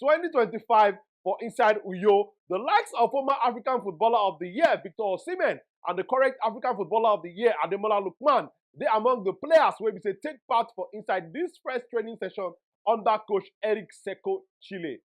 2025 for inside Uyo. The likes of former African Footballer of the Year, Victor Osimhen, and the current African Footballer of the Year, Ademola Lukman, they among the players where we say take part for inside this first training session under coach Eric Seco Chile.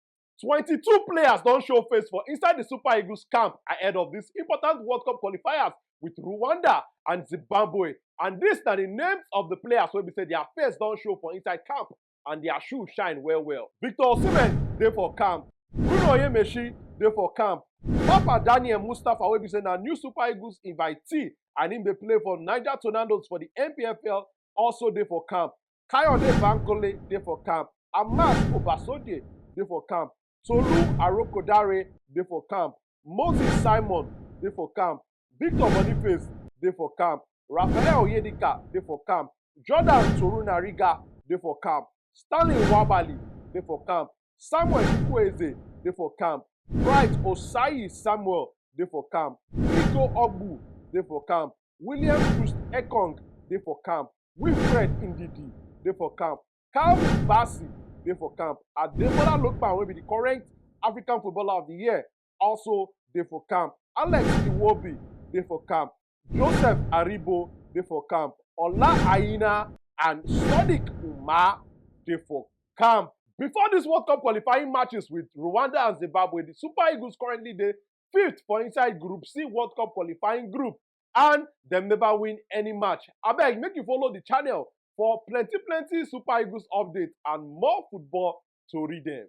22 players don't show face for inside the Super Eagles camp ahead of this important World Cup qualifiers with Rwanda and Zimbabwe. And this na the names of the players wey be say their face don show for inside camp and dia shoe shine well well. Victor Osimhen dey for camp, Bruno Onyemaechi dey for camp, Mpapah Daniel Mustafa wey be say na new Super Eagles invitee and im dey play for Niger Tornadoes for di NPFL also dey for camp, Kayode Bankole dey for camp, Amas Obasogie dey for camp. Tolu Arokodare dey for camp, Moses Simon dey for camp, Victor Boniface dey for camp, Raphael Onyedika dey for camp, Jordan Torunariga dey for camp, Stanley Nwabali dey for camp, Samuel Chukwueze dey for camp, Bright Osayi Samuel dey for camp, Igo Ogbu dey for camp, William Troost-Ekong dey for camp, Wilfred Ndidi dey for camp, Calvin Bassey dey for camp, Ademola Lookman wey be di current African Footballer of di Year also dey for camp, Alex Iwobi dey for camp, Joseph Aribo dey for camp, Ola Aina and Sodiq Umar dey for camp. Before dis World Cup qualifying matches wit Rwanda and Zimbabwe, di Super Eagles currently dey fifth for inside group c world cup qualifying group and dem never win any match abeg make you follow the channel for plenty plenty super eagles updates and more football tori dem.